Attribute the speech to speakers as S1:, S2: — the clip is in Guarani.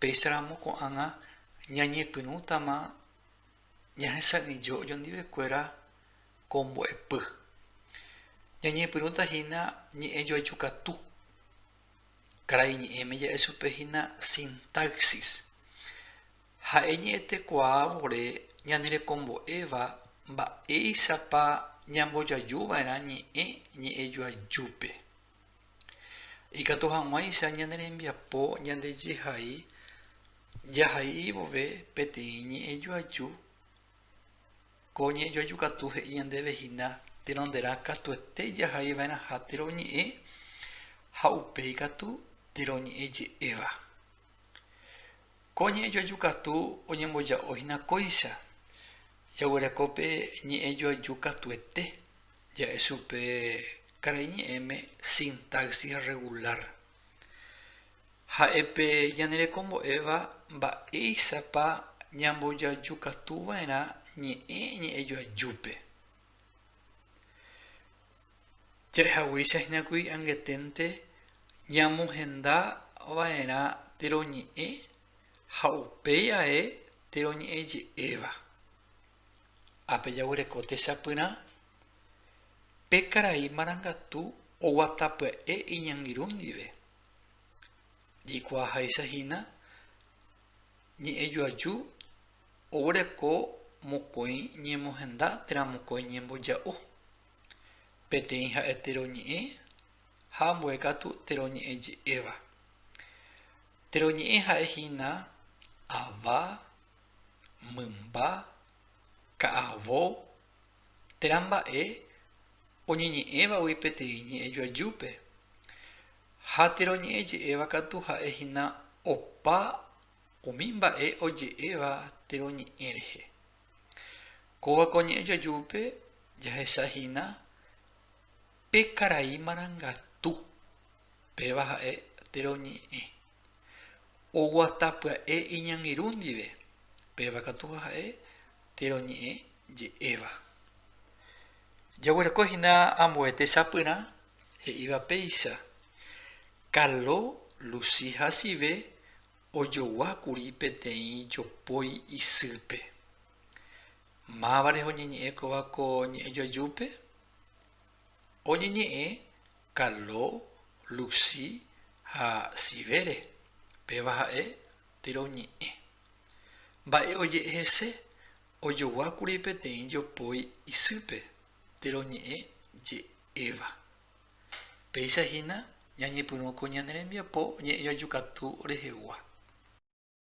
S1: Péicharamo ko'ág̃a ñañepyrũtama ñahesa'ỹijo ojondivekuéra ko mbo'epy. Ñañepyrũta hína ñe'ẽ joayju katu. Karai ñe'ẽme ja'e chupe hína sintaxis. Ha'e ñe'ẽtekuaa vore ñanerekombo'éva mba'éichapa ñambojoajuva'erã ñe'ẽ ñe'ẽjoajúpe. Ikatu hag̃uáicha ñane rembiapo ñandejehai jahai vove peteĩ ñe'ẽjoaju, ko ñe'ẽjoaju katu he'i ñandéve hína tenonderã katuete jahai va'erãha térõ oñe'ẽ ha upéi katu térõ oñe'ẽ je'éva. Ko ñe'ẽjoaju katu oñemboja'o hína kóicha, jaguereko pe ñe'ẽjoaju katuete Ja'e chupe karai ñe'ẽme sintaxis rregulár. Ha'e pe ñanerekombo'éva mba'éichapa ñambojajukatuva'erã ñe'ẽ ñe'ẽjoajúpe. Ja'ehaguéicha hína kuri angeténte ñamohendava'erã teroñe'ẽ ha upéi ae teroñe'ẽje'éva. Ha pejaguereko techapyrã pe karai marangatu oguata pya'e iñangirũ ndive, jeikuaaháicha hína ñe'ẽjoaju oguereko mokõi ñemohenda térã mokõi ñemboja'o, peteĩ ha'e teroñe'ẽ ha ambue katu teroñe'ẽ je'éva. Teroñe'ẽ ha'e hína ava mymba, ka'avo, térã mba'e oñeñe'ẽvagui peteĩ ñe'ẽ joajúpe. Ha térã oñe'ẽje'éva katu ha'e hína opa umi mba'e oje'éva térã ñe'ẽ rehe. Kóva ko ñe'ẽ joajúpe jahecha hína pe karai marangatu, péva ha'e térã ñe'ẽ. Oguata pya'e iñangirũ ndive, péva katu ha'e térõ ñe'ẽ je'éva. Jaguereko hína ambue tesapyrã he'íva péicha, Carlo Lucy hasyve ojogua kuri peteĩ jopói isýpe. Mávarehe oñeñe'ẽ kóva ko ñe'ẽjoajúpe? oñeñe'ẽ Carlo, Lucy ha Sivere, péva ha'e térõ ñe'ẽ. Mba'e oje'e hese, ojoguákuri peteĩ jopói isýpe térõ ñe'ẽ je'éva. Péicha hína ñañepyrũ ko ñane rembiapo ñe'ẽjoajukatu rehegua.